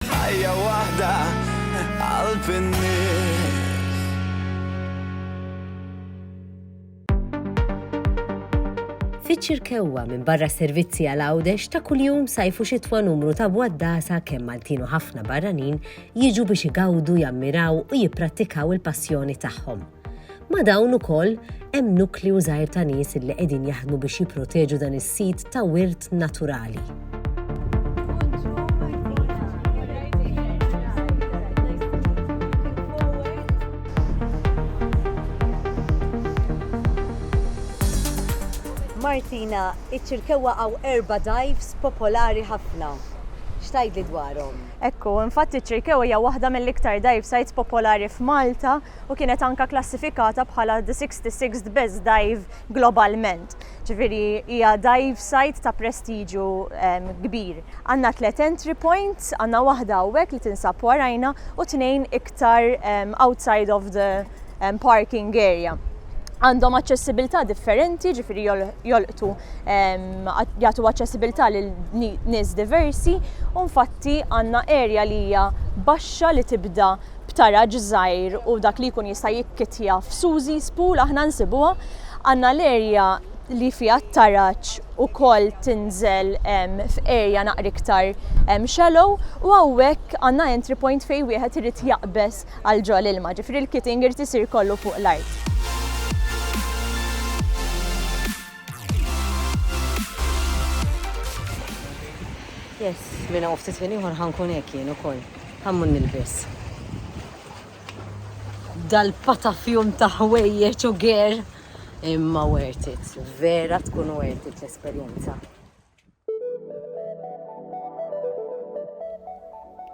Ħajja waħda qalb in-nies. Fiċ-Ċirkewwa minn barra servizzi għal Għawdex ta' kuljum sajfu xitwa numru ta' bwaddasa kemm Maltin u ħafna barranin jiġu biex igawdu, jammiraw u jipprattikaw il-passjoni tagħhom. Ma' dawn ukoll hemm nukleu żgħir ta' nies li qegħdin jaħdmu biex jipproteġu dan is-sit ta' wirt naturali. Martina, iċ-Ċirkewwa hawn erba' dives popolari ħafna. X'tgħidli dwarhom? Hekk hu, infatti ċ-Ċirkewwa hija waħda mill-iktar dive sites popolari f'Malta, u kienet anke klassifikata bħala the 66th best dive globalment, ġifieri hija dive site ta' prestiġju kbir. Għandna tliet entry points, għandna waħda hawnhekk li tinsab warajna u tnejn iktar outside of the parking area. Għandhom aċċessibilità differenti, ġifieri jolqtu jagħtu aċċessibilità lil nies diversi u nfatti għandna area li hija baxxa li tibda b'taraġ żgħir u dak li jkun jista' jikkittja f'Susie's Pool aħna nsibuha. Għandna l-erja li fiha t-taraġ ukoll tinżel f'erja naqra iktar shallow u hawnhekk għandna entry point fejn wieħed irid jaqbeż għal ġo l-ilma, ġifieri l-kitting irid isir kollu fuq l-art. Yes, minn hawn ftit ħin ieħor ħa nkun hekk jien ukoll. Ħammur nilbes dal-patafjum ta' ħwejjeġ u ger imma worth it. Vera tkun worth it l-esperjenza.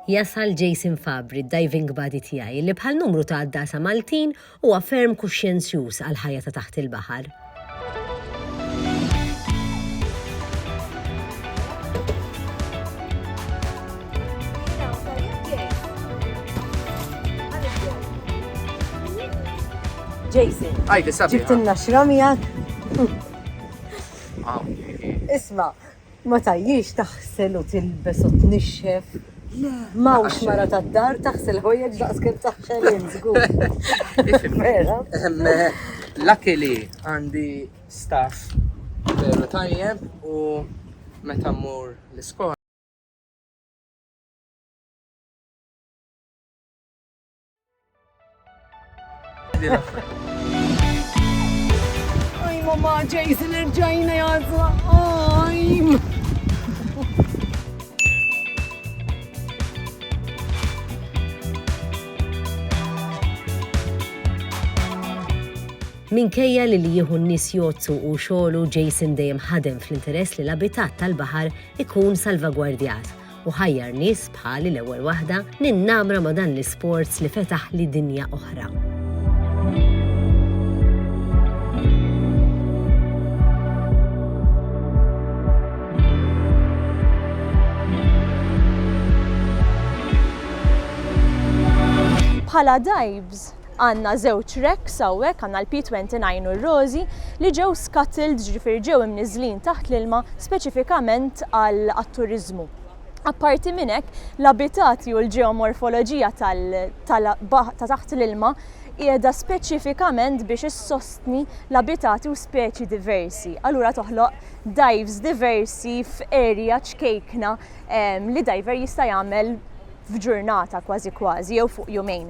Jasal Jason Fabri, d-diving buddy tiegħi, li bħal numru ta' għaddasa Maltin Huwa ferm kuxjenzjuż għall-ħajja ta' taħt il-baħar. Jason. Għajdi sabiħa. Ġibtilna xramijak. Isma, Ma tgħajjix taħsel u tilbes u tnixxef. Ma hawnx mara tad-dar taħsel ħwejjeġ daqs kemm taħsel int, żgur. Vera? Luckily għandi staff veru tajjeb u meta mmur l-iskola Oj, mamma, Jason, irġajna jazla. Oj. Minkejja li li jieħu n-nies jozzu u xogħlu Jason dejjem ħadem fl-interess li l-abitat tal-baħar ikun salvagwardjat u ħajjar nies bħali l-ewwel waħda ninnamra ma' dan l-isports li fetaħli dinja oħra. Bħala Dibes, Għandna żewġ racks hawnhekk, għandna l-P twenty nine u r-rożi, li ġew scuttled, ġifieri ġew imniżżlin taħt l-ilma speċifikament għat-turiżmu. Apparti minn hekk, l-abitati u l-ġeomorfoloġija tal-baħar ta' taħt l-ilma qiegħda speċifikament biex issostni l-abitati u speċi diversi. Allura toħloq dives diversi f'area ċkejkna li diver jista' jagħmel f'ġurnata kważi kważi jew fuq jumejn.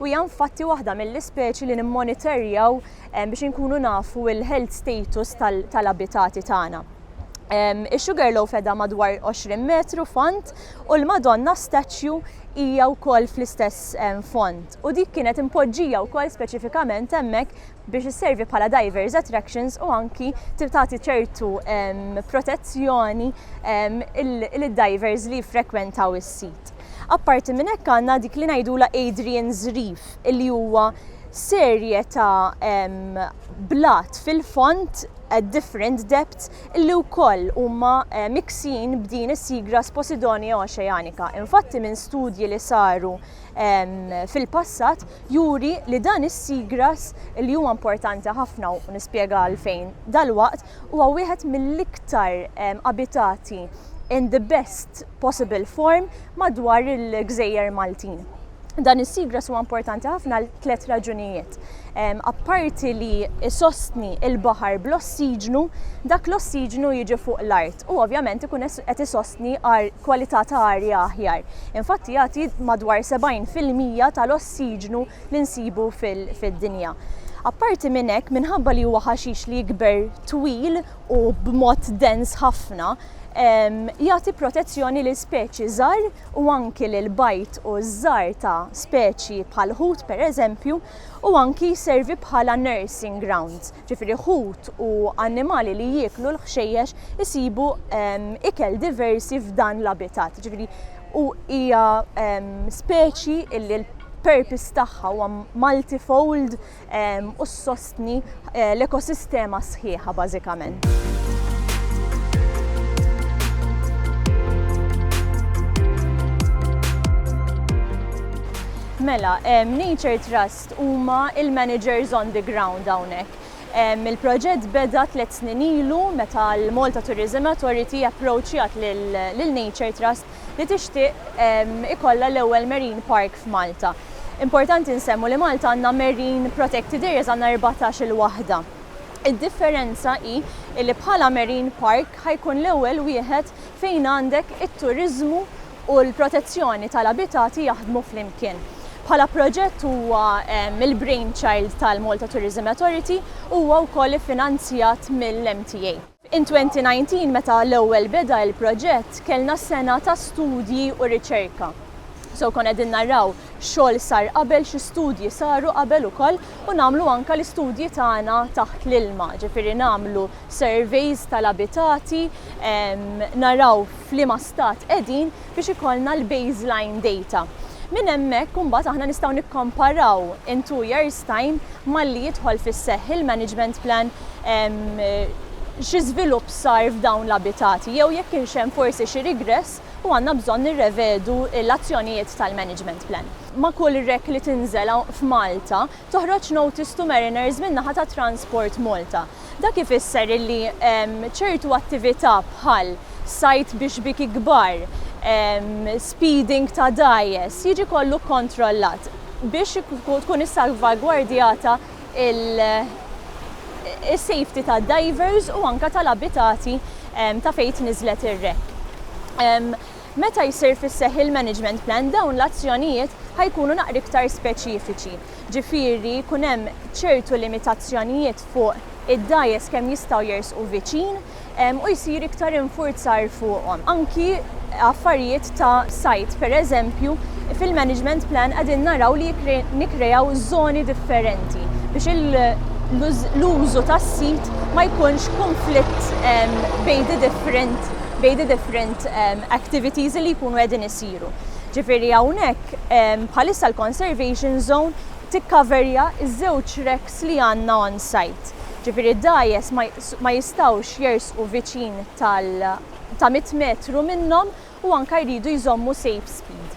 u hija infatti waħda mill-ispeċi li nimmonitorjaw biex inkunu nafu l-health status tal-abitati tagħna. Ix-Sugarloaf edha madwar 20 metru fond u l-Madonna Statue hija wkoll fl-istess fond. U dik kienet impoġġija wkoll speċifikament hemmhekk biex isservi bħala divers attractions u anki tagħti ċertu protezzjoni lid-divers li frekwentaw is-sit. Apparti minn hekk għandna dik li ngħidula Adrian Zrif li huwa serje ta' blat fil-font at different depths li wkoll huma eh, miksin b'din is-seagrass Posidonia oceanica. Infatti minn studji li saru fil-passat juri li dan is-seagrass li huwa importanti ħafna u nispjega għalfejn dalwaqt Huwa wieħed mill-iktar abitati in the best possible form madwar il-gżejjer Maltin. Dan is-seagrass huwa importanti ħafna għal tliet raġunijiet. Apparti li jsostni il-baħar bl-ossiġnu, dak l-ossiġnu jiġi fuq l-art u ovvjament ikun qed isostni kwalità ta' arja aħjar. Infatti jagħti madwar 70 fil-mija tal-ossiġnu li nsibu fid-dinja. Apparti minn hekk, minħabba li huwa ħaxix li jikber twil u b'mod dens ħafna, jagħti protezzjoni lil speċi żgħar u anki lil bajd u żżar ta' speċi bħall-ħut pereżempju u anki jservi bħala nursing ground. ġifieri ħut u annimali li jieklu l-ħxejjex isibu ikel diversi f'dan l-abitat. Ġifieri u hija speċi illi l-purpose tagħha huwa multifold u ssostni eh, l-ekosistema sħiħa bażikament. Mela, Nature Trust huma l-managers on the ground hawnhekk. Il-proġett beda tliet snin ilu meta l-Malta Tourism Authority approachjat lil Nature Trust li tixtieq ikollha l-ewwel marine park f'Malta. Importanti nsemmu li Malta għandna marine protected areas għandna erbatax-il waħda. Id-differenza hi li bħala marine park ħa jkun l-ewwel wieħed fejn għandek it-turiżmu u l-protezzjoni tal-abitati jaħdmu flimkien. Bħala proġett huwa il-brainchild tal-Malta Tourism Authority u huwa wkoll iffinanzjat mill-MTA. In 2019 meta l-ewwel beda il-proġett kellna sena ta' studji u riċerka. So konna qegħdin naraw xogħol sar qabel, xi studji saru qabel ukoll u nagħmlu anke l-istudji tagħna taħt l-ilma, ġifieri nagħmlu surveys tal-abitati, naraw f'liema stat qegħdin biex ikollna l-baseline data. Minn hemmhekk imbagħad aħna nistgħu nikkomparaw in two years time malli jidħol fis-seħħ il-management plan xi żvilupp sar f'dawn l-abitati jew jekk kienx hemm forsi xi regress u għandna bżonn nirrevedu l-azzjonijiet tal-management plan. Ma' kull rek li tinżel f'Malta, toħroġ notice to mariners min-naħa ta' Transport Malta. Dak ifisser illi ċertu attività bħal sajd bi xbieki kbar, speeding ta' dgħajjes jiġi kollu kkontrollat biex tkun issalvagwardjata is-safety tad-divers u anke tal-abitati ta' fejn tniżżlet ir-wreck. Meta jsir fis-seħħ il-management plan dawn l-azzjonijiet ħa jkunu naqra iktar speċifiċi, ġifieri jkun hemm ċertu limitazzjonijiet fuq id-dgħajjes kemm jistgħu jersqu viċin u jsir iktar infurzar fuqhom. Anki affarijiet ta' sajd, pereżempju, fil-management plan qegħdin naraw li nikkreaw żoni differenti biex l-użu tas-sit ma jkunx kunflitt bejdi differenti. bejn the different um, activities li jkunu qegħdin isiru. Ġifieri hawnhekk um, bħalissa l-conservation zone tikkaverja iż-żewġ reks li għandna on site. Ġifieri dajes ma jistawx jersqu viċin tal ta' 100 metru minnhom u anka jridu jżommu safe speed.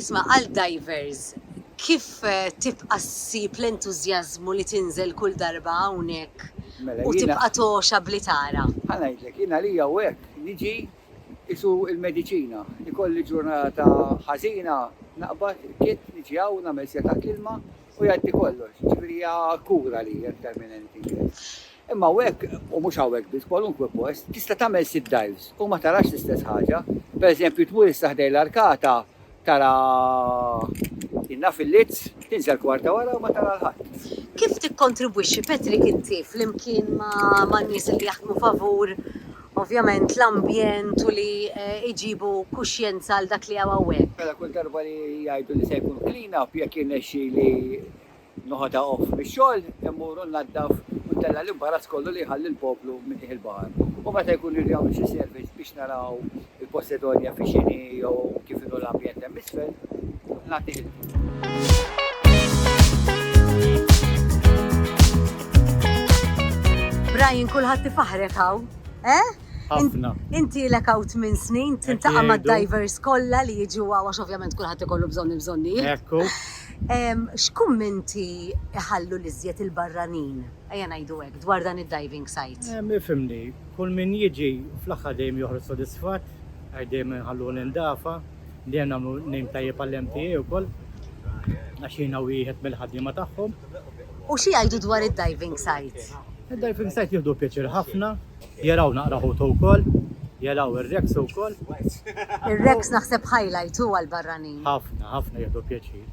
Isma' għal divers, kif tibqa' ssib l-entużjażmu li tinżel kull darba hawnhekk u tibqa' togħxa bli tara? Ħa ngħidlek, jien għalija hawnhekk niġi qisu l-mediċina. Ikolli ġurnata ħażina, naqbad, irkidt, niġi hawn, nagħmel setgħa klma u jgħaddi kollox. Jiġifieri hija kura għalija iktar minn anything else. Imma hawnhekk, u mhux hawnhekk biss, kwalunkwe post, tista' tagħmel sitt dives u ma tarax l-istess ħaġa. Pereżempju, tmur issa ħdejn l-arkata tara Inna fil-Lids, tinżel kwarta wara u ma tara 'l ħadd. Kif tikkontribwixxi Patrick inti flimkien man-nies li jaħdmu favur ovvjament l-ambjent u li jġibu kuxjenza għal dak li hawn hawnhekk? Mela kull darba li jgħidu li se jkun clean-up jekk jirnexxili Noħodha off mix-xogħol, immuru nnaddaf u ntella' l-imbarazz kollu li jħalli l-poplu minn qiegħ il-baħar. U meta jkun irid jagħmel xi servizz biex naraw il-Posedonja fi x'inhi jew kif inhu l-ambjent hemm isfel, nagħtih il-ħin. Brian, kulħadd ifaħħrek hawn, eh? Ħafna. Inti lek hawn tmien snin, tintaqa' mad-divers kollha li jiġu hawn għax ovvjament kulħadd ikollu bżonn il-bżonnijiet. Ekku. X'kummenti jħallu l-iżjed il-barranin, ejja ngħidu hekk, dwar dan id-diving site? Ifhimni, kull min jiġi fl-aħħar dejjem joħroġ sodisfatt għax dejjem inħalluh nindafa, dejjem nagħmlu name tajjeb għall-MTA wkoll għax jiena wieħed mill-ħaddiema tagħhom. U xi jgħidu dwar id-diving site? Id-diving site jieħdu pjaċir ħafna. Jela u naqra ħutu wkoll. Jela u r-Rex ukoll. Ir-Rex naħseb highlight hu għall-barranin. Ħafna, ħafna jieħdu pjaċir.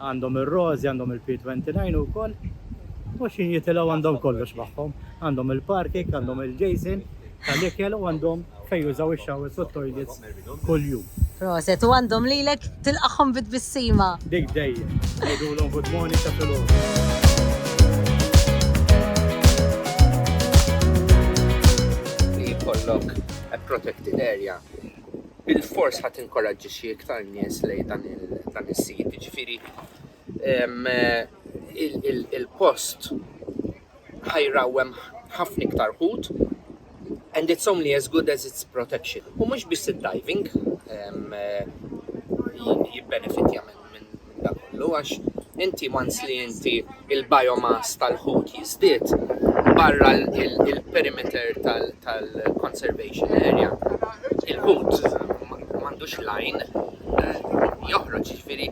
Għandhom ir-Rożi, għandhom il-P29 ukoll. U xi jitilgħu għandhom kollox magħhom. Għandhom il-parking, għandhom il-Jason tal-ikel u għandhom fejn jużaw ix-showers u t-toilets kuljum. Proset u għandhom lilek tilqagħhom bi tbissima. Dik dejjem. Ngħidulhom good morning ta' filgħodu. protected area, bil-fors ħat inkoraġġixxi iktar nies lej dan is-sit. Ġifieri il-post ħajra u hemm ħafna iktar ħut and it's only as good as its protection. U mhux biss id-diving jibbenefitja minn da kollu għax inti once li inti il-biomass tal-ħut jiżdied barra il-perimeter tal-conservation area il-ħut m'għandux lajn eh, joħroġ ġifieri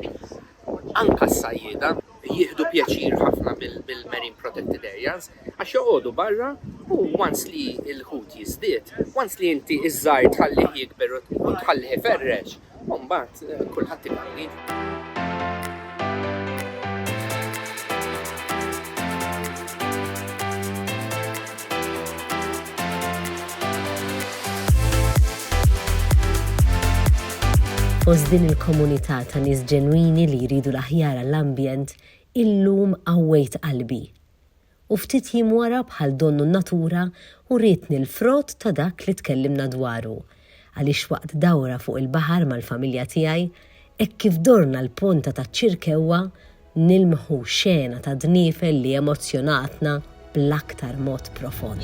Anke s-sajjieda jieħdu pjaċir ħafna bil-marine protected areas għax joqogħdu barra u once li l-ħut jiżdied, once li inti ż-żgħir tħallih jikber u tħallih iferrex, u mbagħad kulħadd ikolli. Fost din il-komunità ta' nies ġenwini li jridu l-aħjar għall-ambjent, illum qawwejt qalbi. U ftit jiem wara bħal donnu n-natura wrietni l-frott ta' dak li tkellimna dwaru, għaliex waqt dawra fuq il-baħar mal-familja tiegħi, hekk kif dorna l-ponta taċ-Ċirkewwa, nilmħu xena ta' dniefel li emozzjonatna bl-aktar mod profond.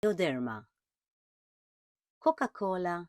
Bioderma, Coca-Cola